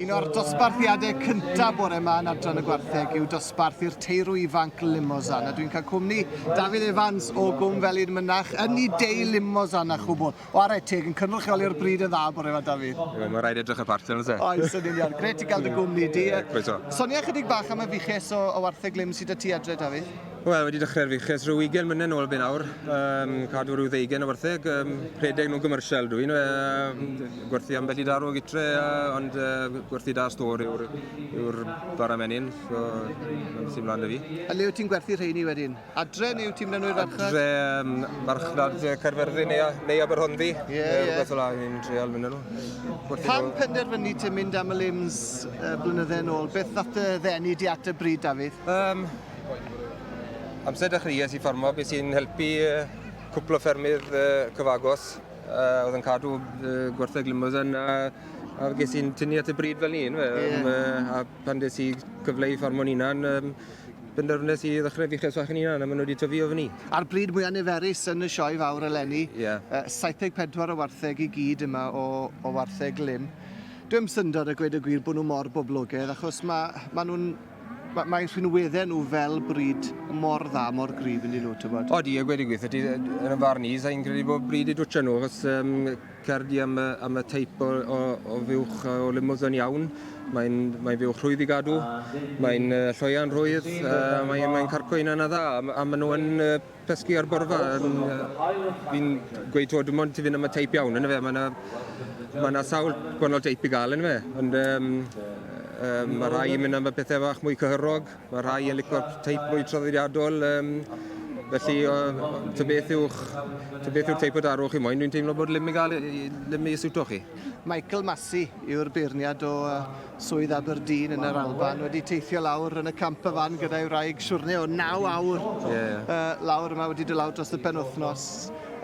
Un o'r dosbarthiadau cyntaf bore yma yn Adran y Gwartheg yw dosbarth i'r teirw ifanc Limozan. A dwi'n cael cwmni Dafydd Evans o Gwm Felin Mynach yn ei dei Limozan a chwbl. O arai teg, yn cynrychioli o'r bryd yn dda bore yma, Dafydd. Wel, mae rhaid edrych y parti yn lle. Oes, yn union. Gret i gael dy gwmni di. Croeso. Sonia chydig bach am y fuches o, o wartheg lim sydd â ti adre, Dafydd. Wel, wedi dechrau'r fuches rhyw 20 mlynedd nôl be nawr, um, cadw rhyw ddeugen o wartheg, um, rhedeg nhw'n gymrsial dwi, nhw, uh, gwerthu ambell i darw gytre, uh, ond uh, gwerthu da stor yw'r yw bara menyn, so mae'n sy'n mlaen dy fi. A le wyt ti'n gwerthu rheini wedyn? Adre neu wyt ti'n mynd â nhw i'r farchnad? Adre, um, farchnad Caerfyrddin neu, neu Aberhonddu, yeah, yeah. rhywbeth o la, ni'n treol mynd â nhw. Pan penderfynu ti'n mynd am y limbs uh, blynydde yn ôl, beth nath dy ddenu di at y bryd, Dafydd? Um, Amser dechreuais i ffarmo, beth sy'n helpu cwpl o ffermydd cyfagos oedd yn cadw gwerthau glymos yna a ges i'n tynnu at y bryd fel un. Yeah. a pan des i cyfle i ffarmo'n unan, um, benderfynes i ddechrau fi cheswach yn unan a maen nhw wedi tyfu o fyny. A'r bryd mwyaf niferus yn y sioe fawr eleni, yeah. uh, 74 o wartheg i gyd yma o, o wartheg lym. Dwi'n syndod a gweud y gwir bod nhw mor boblogaidd achos mae ma nhw'n Mae, mae rhinweddau nhw fel bryd mor dda, mor gryf yn dyn nhw, ti'n bod? O, di, a gweud i gweithio, ti, yn y farn i, sa'n credu bod bryd i dwtio nhw, achos um, cerdi am, am y teip o, o, o fuwch o limos yn iawn, mae'n mae fuwch rhwydd i gadw, mae'n uh, lloian rhwydd, uh, mae'n mae carco un yna dda, a, a maen nhw'n uh, Cysgu ar bwrw fa, fi'n gweud to, dim ond ti fynd am y teip iawn, yn fe, mae yna ma na sawl gwahanol teip i gael, yn fe, ond um, um, mae rhai yn mynd am y pethau fach mwy cyhyrog, mae rhai yn licor teip mwy traddodiadol, um, felly o, ta beth yw'ch ta beth yw'r teip o darwch chi moyn, dwi'n teimlo bod lym i gael lym i siwto chi. Michael Massey yw'r beirniad o Swydd Aberdeen yn yr Alban, wedi teithio lawr yn y camp y fan gyda'i wraig siwrne o 9 awr yeah. uh, lawr yma wedi dod lawr dros y penwthnos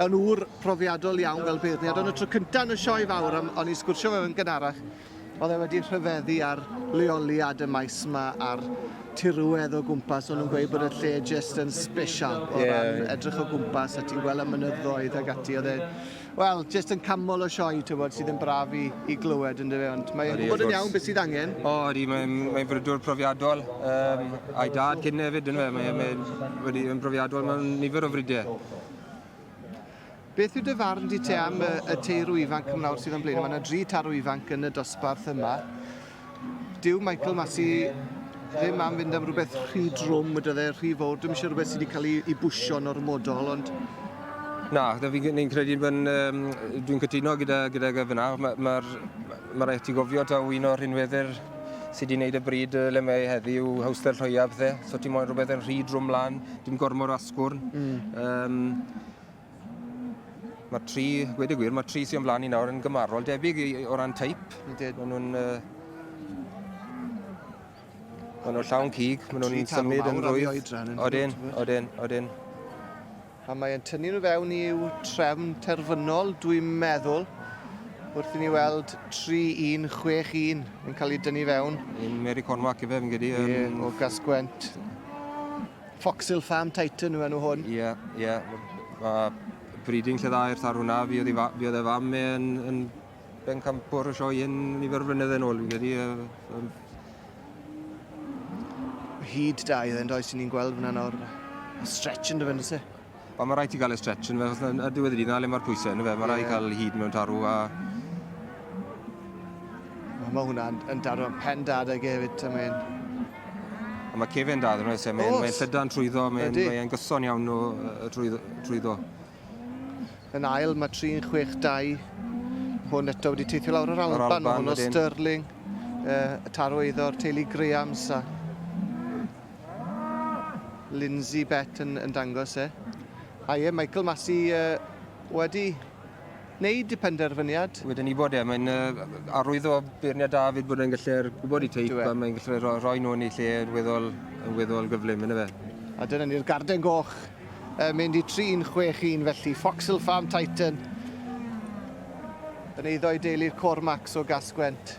yn ŵr profiadol iawn fel beirniad, ond y tro cyntaf yn y sioe fawr, am, o'n i sgwrsio fe yn gynharach, oedd e wedi rhyfeddu ar leoliad y maes yma a'r tirwedd o gwmpas, o'n nhw'n gweud bod y lle jyst yn special o yeah. ran edrych o gwmpas a ti'n gweld y mynyddoedd ag ati, oedd e Wel, jyst yn canmol y sioe, tywod, sydd yn braf i, i glywed, yn dyfe, ond mae'n gwybod yn iawn beth sydd angen. O, ydy, mae'n mae frydwr profiadol, um, a'i dad cyn hefyd, yn fe, mae'n mae, mae, mae profiadol mewn nifer o frydau. Beth yw dy farn di te am y, y teirw ifanc ymlawr sydd yn blaen? Mae yna dri tarw ifanc yn y dosbarth yma. Dyw Michael Massey ddim am fynd am rhywbeth rhy drwm, weda dde, rhy fawr. Dwi'n eisiau rhywbeth sydd wedi cael ei, ei bwysio'n ormodol, ond... Na, da fi'n ni'n credu, um, dwi'n cytuno gyda, gyda gyfyna. Mae'r ma, ma, ma rhaid ti gofio taw un o'r rhinweddyr sydd wedi gwneud y bryd le mae heddi yw hawster llwyaf, dde. So ti moyn rhywbeth yn rhy drwm lan, dim gormod o asgwrn. Mm. Um, Mae tri, gwed y gwir, mae tri sy'n flaen i nawr yn gymarol debyg i, o ran teip. Maen nhw'n... Uh, maen nhw'n llawn cig, maen nhw'n symud yn rwydd. Odyn, odyn, odyn. A mae'n tynnu nhw fewn i'w trefn terfynol, dwi'n meddwl, wrth i ni weld 3-1-6-1 yn cael ei dynnu fewn. Yn Mary Conwac efe, fi'n gyda. Um, o Gasgwent. Foxhill Farm Titan yw enw hwn. Ie, ie. Mae breeding lle dda i'r thar hwnna. Fi oedd, fi oedd e fam e yn, yn ben campwr y sioe hyn nifer o flynydde nôl, fi'n credu. Uh, um... Hyd da i dde'n does, ni'n gweld fyna nawr. Stretch yn dy fynd, ysy? Wel, mae rhaid ti gael y stretch yn fe, achos yn y diwedd y dydd, na le mae'r pwysau yn fe, mae rhaid yeah. cael hyd mewn tarw a... Mae ma hwnna yn dad o'n pen dad ag hefyd, ta mae'n... A mae cefen dad yn oes, mae'n mae llydan trwyddo, mae'n mae mae gyson iawn o, uh, trwyddo. trwyddo. Yn ail, mae 362 hwn eto wedi teithio lawr yr Alban, Alban hwn o Stirling, uh, y tarw eiddo'r teulu Grahams a Lindsay Bett yn, yn dangos e. A ie, Michael Massey uh, wedi wneud y penderfyniad. Wedyn ni bod e, mae'n uh, arwyddo beirniad David bod e'n gallu'r gwybod i teip a mae'n gallu rhoi, rhoi nhw yn ei lle yn weddol, yn weddol gyflym, yna fe. A dyna ni'r garden goch uh, mynd i 3-6-1 felly, Foxhill Farm Titan yn eiddo i deulu'r Cormacs o Gasgwent.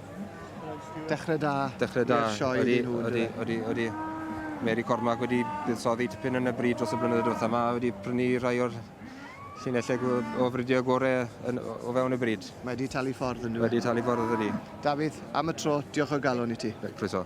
Dechrau da. Dechrau da. I'r sioe ydy, nhw. Ydy, ydy, ydy. Mary Cormac wedi buddsoddi tipyn yn y bryd dros y blynyddoedd diwethaf yma, wedi prynu rhai o'r llinellau o fridio gorau yn, o fewn y bryd. Mae wedi talu ffordd yn nhw. Mae wedi talu ffordd ydy. Dafydd, am y tro, diolch o'r galon i ti. Croeso.